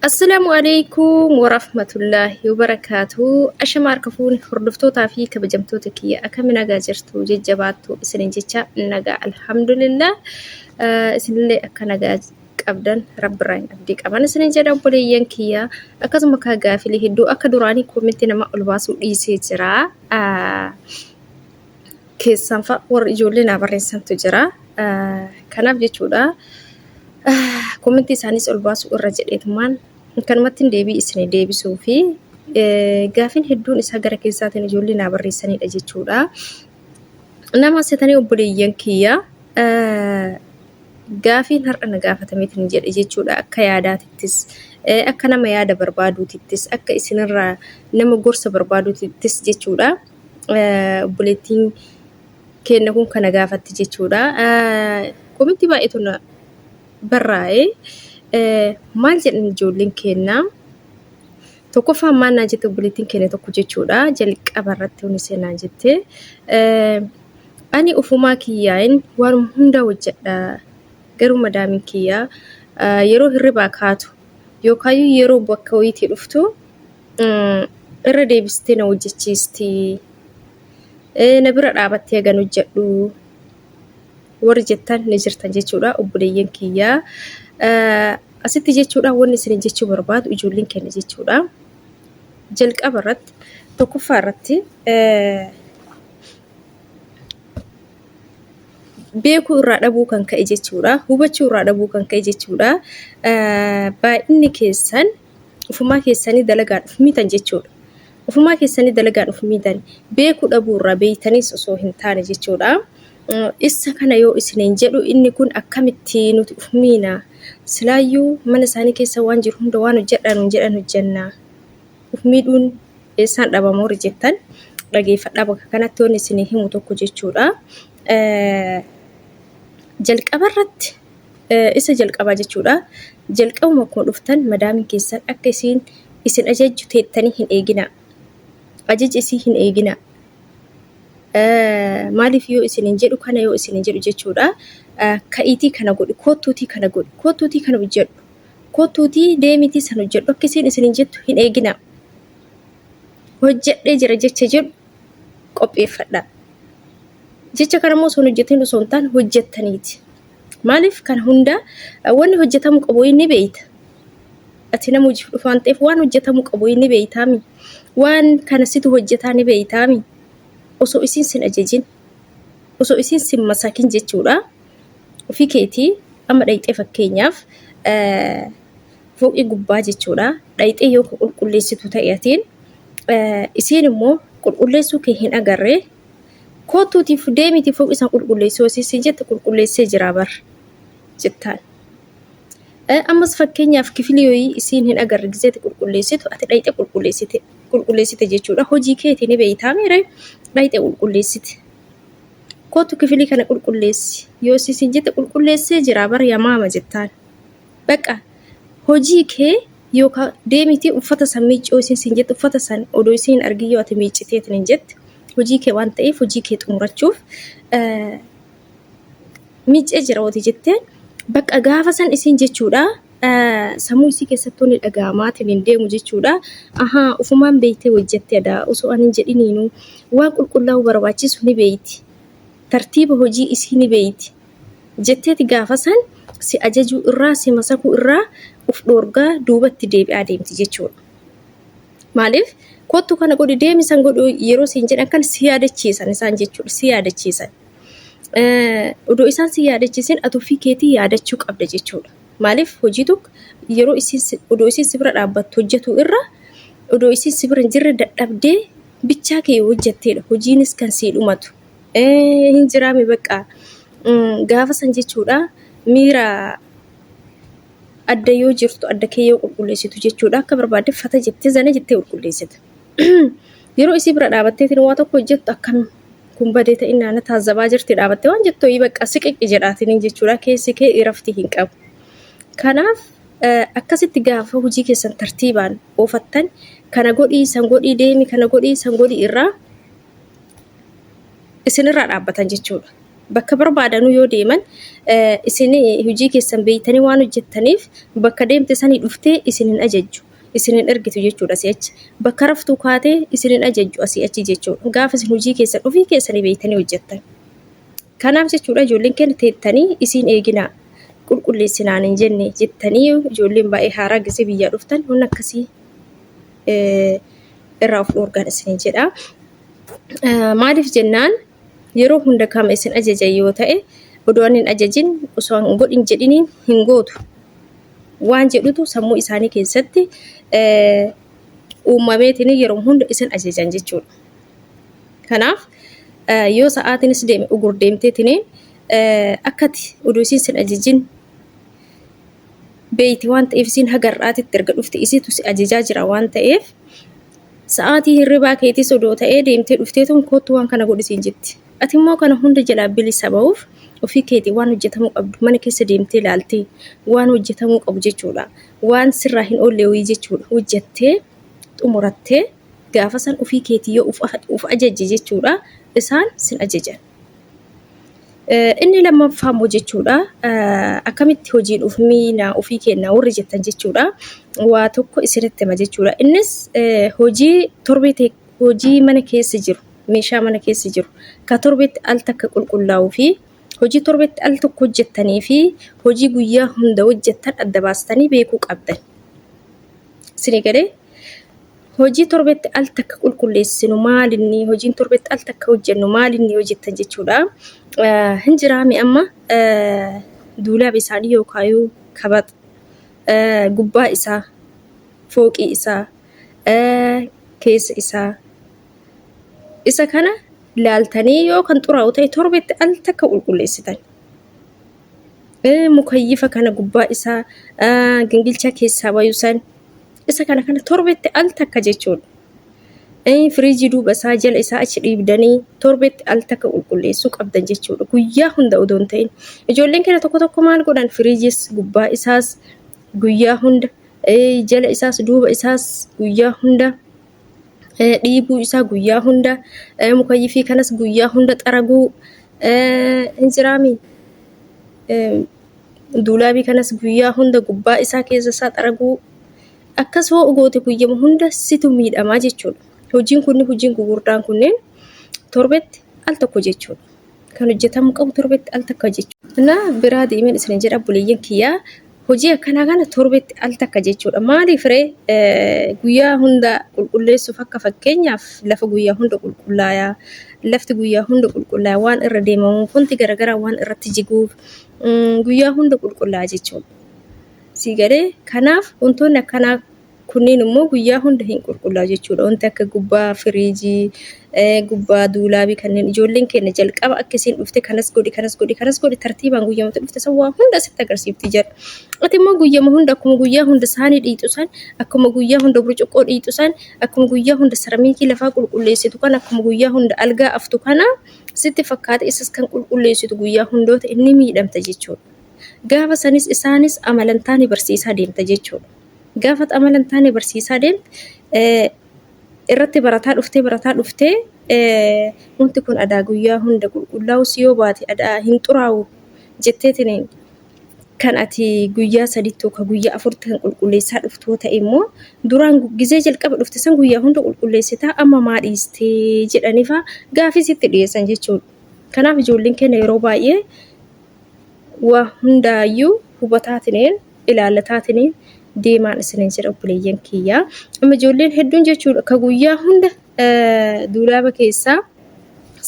Assalaamu alaikum warahmatullaahi wabarakaatuhu. Ashama harka fuuni hordoftootaa fi kabajamtoota kiyya akkami nagaa jirtu jajjabaattu isinin jecha nagaa alhamdulillah. Eh, Isinillee akka nagaa qabdan rabbirraa hin abdii qaban isinin jedha obboleeyyan kiyya akkasuma kaa gaafilee hedduu akka duraanii koomitti nama ol baasuu dhiisee jira. Ah, keessanfa warri ijoollee naa barreessantu jira. Kanaaf jechuudha komentii isaaniis ol baasuu irra jedheetumaan kanumatti deebii isin deebisuu fi gaafin hedduun isaa gara keessaatiin ijoollee naa barreessanidha jechuudha. Nama setanii obboleeyyan kiyya gaafiin har'a na gaafatameetiin jedhe jechuudha akka yaadaatittis akka nama yaada barbaaduutittis akka isinirraa nama gorsa barbaaduutittis jechuudha. obboleettiin keenya kun kana gaafatti jechuudha. Komitti baay'eetu na barraa'e. Maal jedhan ijoolleen keenya? Tokkoffaa maal naa jette obboleettiin keenya tokko jechuudha. Jalqaba irratti hundi seenaa jette. Ani ofumaa kiyyaayin waan hundaa hojjedha. Garuu madaamiin kiyyaa yeroo hirribaa kaatu yookaayyuu yeroo bakka wayiitii dhuftu irra deebistee na hojjechiisti. Na bira dhaabattee egan hojjedhu warri jettan ni jirtan jechuudha obboleeyyan kiyyaa. Asitti jechuudha wanni isin jechuu barbaadu ijoolleen keenya jechuudha. Jalqaba irratti tokkoffaa irratti beekuu irraa dhabuu kan ka'e jechuudha. Hubachuu irraa dhabuu kan ka'e jechuudha. Baay'inni keessan ofumaa keessanii dalagaa dhufu mitan jechuudha. Ofumaa keessanii dalagaa dhufu mitan beekuu dhabuu irraa beeytaniis osoo hin taane jechuudha. Isa kana yoo isiniin jedhu inni kun akkamitti nuti of miina? Silaayyuu mana isaanii keessa waan jiru hunda waan hojjedhaa nuun jedhan hojjenna. of miidhuun eessaan dhabama warri jettan dhageeffadhaa bakka kanatti wanni isinii himu tokko jechuudha. Jalqaba irratti isa jalqabaa jechuudha. Jalqabuma akkuma dhuftan madaamiin keessan akka isiin isin ajajju teettanii hin eeginaa. Ajaja isii hin eeginaa. Maaliif yoo isin hin jedhu kana yoo isin hin jedhu jechuudha. Ka'iitii kana godhi, koottuutii kana godhi, koottuutii kana hojjedhu. Kottuutii deemiitii san hojjedhu akka isiin isiniin jettu hin eeginaa. Hojjedhee jira jecha jedhu qopheeffadhaa. Jecha kana immoo osoo hin hojjetin osoo hin taane hojjettaniiti. Maaliif kana hundaa wanni hojjetamuu qabu inni beeyta. Ati nama hojiif dhufu waan ta'eef waan hojjetamuu qabu inni beeytaami. Waan kana situ hojjetaa ni beeytaami. Osoo isiin sin ajajin osoo isiin sin masakin jechuudha. Ofii keetii amma dhayxee fakkeenyaaf fooqii gubbaa jechuudha dhayxee yoo qulqulleessitu ta'e atiin isiin immoo qulqulleessuu kee hin agarre kootuutiif deemiti fooqii san qulqulleessuu isiin jette qulqulleessee jiraa bar jettaan. Ammas fakkeenyaaf kifilii yoyii isiin hin agarre gizeeti qulqulleessitu ati dhayxee qulqulleessite jechuudha hojii keetii ni beeytaa miire dhayxee qulqulleessite. Kootu kifilii kana qulqulleessi. Yoo siin jette qulqulleessee jira bara yamaama jettaan. Baqa hojii kee yookaan deemitii uffata san miiccoo isiin siin jette uffata san odoo isiin hin argin yoo ati miicciteetiin hin jette hojii kee waan ta'eef hojii kee xumurachuuf miiccee jira ooti jettee baqa gaafa san isiin jechuudha. sammuu isii keessatti wanni dhaga'amaatiin hin deemu jechuudha. Ahaa ufumaan beektee hojjette adaa osoo ani hin jedhiniinuu waan qulqullaa'uu barbaachisu ni beekti. Tartiiba hojii isii ni beekti. Jetteeti gaafa san si ajajuu irraa si masakuu irraa uf dhoorgaa duubatti deebi'aa deemti jechuudha. Maaliif kottu kana godhi deemi san godhu yeroo siin jedhan kan si yaadachiisan isaan jechuudha si yaadachiisan. Odoo isaan si yaadachiisin ati ofii keetii yaadachuu qabda jechuudha. Maaliif hojii tokko yeroo isiin si- odoo isiin si bira dhaabbattu hojjetu irra odoo isiin si bira hin jirre dadhabdee bichaa kee yoo hojjetteedha hojiinis kan sii dhumatu. Eh, Hin jiraame bakka Mm, gaafa san jechuudha miira adda yoo jirtu adda kee yoo qulqulleessitu jechuudha akka barbaadde fata jettee zana jettee qulqulleessita. Yeroo isii bira dhaabatteetiin waa tokko hojjettu akkam kun badee ta'innaa na taazzabaa jirti dhaabattee waan jettu ho'ii bakka siqiqqi jedhaatiniin jechuudha keessi kee irafti hin qabu. Kanaaf akkasitti gaafa hojii keessan tartiibaan oofattan kana godhii san godhii deemi kana godhii san godhii irraa isinirraa dhaabbatan jechuudha. Bakka barbaadanuu yoo deeman isin hojii keessan beektanii waan hojjettaniif bakka deemte sanii dhuftee isin hin ajajju. isin hin ergitu jechuudha asii achi. Bakka raftuu kaatee isin hin ajajju asii achi jechuudha. Gaafa isin hojii keessan ofii keessanii beektanii hojjettan. Kanaaf jechuudha ijoolleen keenya teettanii isin eeginaa qulqulleessinaan hin jenne jettanii ijoolleen baay'ee haaraa gisee biyyaa dhuftan wanni akkasii eh, irraa of dhoorgaan isin jedha. Eh, Maaliif jennaan yeroo hunda kama isin ajajan yoo ta'e odoo ani hin ajajin osoo hin godhin jedhiniin hin gootu. waan jedhutu sammuu isaanii keessatti uumameetiin yeroo hunda isin ajajan jechuudha. Kanaaf yoo sa'aatiinis deeme ugur deemteetiin akkati oduu isin sin ajajin beeyti waan ta'eef isin hagar'aatitti erga dhufte isitu si ajajaa jira waan ta'eef sa'aatii hirribaa keetis odoo ta'ee deemtee dhufteetuun kottu waan kana godhisiin jetti. Ati immoo kana hunda jalaa bilisa ba'uuf ofii keetii waan hojjetamuu qabdu mana keessa deemtee ilaaltee waan hojjetamuu qabu jechuudha. Waan sirraa hin oolle wayii jechuudha. Hojjettee xumurattee gaafa san ofii keetii yoo of ajajje jechuudha isaan sin ajajan. Inni lammaffaa immoo jechuudha akkamitti hojii dhuuf miina ofii keenya warri jettan jechuudha. Waa tokko isinitti hima jechuudha. Innis hojii torbee hojii mana keessa jiru, meeshaa mana keessa jiru, ka torbetti al takka qulqullaa'uu fi hojii torbetti al tokko hojjettanii fi hojii guyyaa hunda hojjettan adda baastanii beekuu qabdan. Isinii galee? Hojii torbetti al takka qulqulleessinu maalinni, hojiin torbetti al takka hojjennu maalinni yoo jettan jechuudha. Eh, Hin jiraame amma eh, duulaaba isaanii yookaayuu kaba eh, gubbaa isaa fooqii isaa, keessa isaa. Isa kana laaltanii yoo kan xuraa'u ta'e torbetti al takka qulqulleessitan. Mukayyifa kana gubbaa isaa gingilchaa keessaa bayu san isa kana kana torbetti al takka jechuudha. Firiijii duuba isaa jala isaa achi dhiibdanii torbetti al takka qulqulleessuu qabdan jechuudha. Guyyaa hunda odoo hin ta'in. Ijoolleen keenya tokko tokko maal godhan firiijis gubbaa isaas guyyaa hunda jala isaas duuba isaas guyyaa hunda dhiibuu isaa guyyaa hunda mukayyifii kanas guyyaa hunda xaraguu hin jiraami. Duulaabii kanas guyyaa hunda gubbaa isaa keessa isaa xaraguu akkas hoo goote guyyama hunda situ miidhamaa jechuudha. Hojiin kunni hojiin gugurdaan kunneen torbetti al tokko jechuudha. Kan hojjetamu qabu torbetti al takka jechuudha. Kanaaf biraa deemeen isin jedha buleeyyan kiyyaa Hojii akkanaa kana torbetti al takka jechuudha. Maaliif ree guyyaa hunda qulqulleessuuf akka fakkeenyaaf lafa guyyaa hunda qulqullaaya. Lafti guyyaa hunda qulqullaaya waan irra deemamu wanti garaagaraa waan irratti jiguuf guyyaa hunda qulqullaaya jechuudha. Sii galee kanaaf wantoonni akkanaa Kunniin immoo guyyaa hunda hin qulqullaa'u jechuu dha. Wanti akka gubbaa firiijii, gubbaa duulaabii kanneen ijoolleen keenya jalqaba akka ishiin dhufte kanas godhi, kanas godhi, kanas godhi tartiibaan guyyuma itti dhufte san waa hunda sitti agarsiifti ija. Ati immoo guyyuma hunda akkuma guyyaa hunda saanii dhiitu san, akkuma guyyaa hunda burcuqqoo dhiitu san, akkuma guyyaa hunda saramiikii lafaa qulqulleessitu kana, akkuma guyyaa hunda algaa aftu kana sitti fakkaata isas kan qulqulleessitu guyyaa hundoota inni miidhamta jechuu dha. Gaafa sanis isaanis amalantaa ni barsiisaa deemta jechuu dha. Gaafa amala hin taane barsiisaa deemte irratti barataa dhuftee barataa dhuftee wanti kun adaa guyyaa hunda qulqullaa'us yoo baate adaa hin xuraa'u jetteetiniin kan ati guyyaa sadiitti yookaan guyyaa afurtti kan qulqulleessaa dhuftu yoo ta'e immoo duraan gizee jalqaba dhufte san guyyaa hunda qulqulleessitaa amma maa dhiistee jedhaniifaa gaafii sitti dhiyeessan jechuudha. Kanaaf ijoolleen keenya yeroo baay'ee waa hundaayyuu hubataatineen ilaalataatini deemaan isiniin jedha obboleeyyan kiyya. Amma ijoolleen hedduun jechuudha ka guyyaa hunda duulaaba keessaa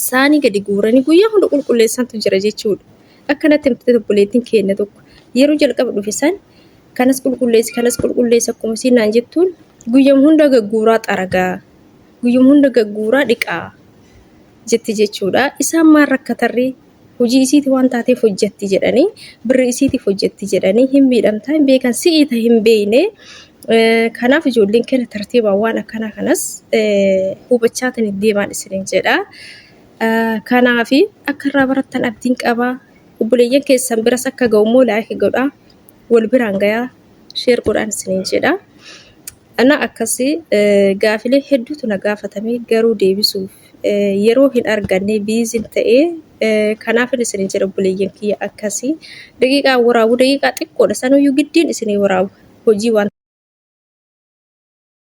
saanii gadi guuranii guyyaa hunda qulqulleessantu jira jechuudha. Akkanatti himtee obboleettiin keenya tokko yeroo jalqaba dhufe san kanas qulqulleessi kanas qulqulleessi akkuma isiin naan jettuun guyyam hunda gagguuraa xaragaa guyyam hunda gagguuraa dhiqaa jetti jechuudha. Isaan maal rakkatarree hujii isiiti waan taateef hojjetti jedhanii birri isiitiif hojjetti jedhanii hin miidhamtaa hin beekan si'ii ta hin beeyne kanaaf ijoolleen keenya tartiibaan waan akkanaa kanas hubachaa tan deemaan isiniin jedha. Kanaaf akka irraa barattan abdiin qaba obboleeyyan keessan biras akka ga'u immoo laayika godhaa wal biraan gayaa sheer godhaan isiniin jedha. Ana akkasi gaafilee hedduutu na gaafatame garuu deebisuuf yeroo hin arganne biizin ta'e kanaafin isin jedha obboleeyyan kiyya akkasi daqiiqaa waraabu daqiiqaa xiqqoodha sanuyyuu giddiin isinii waraabu hojii waan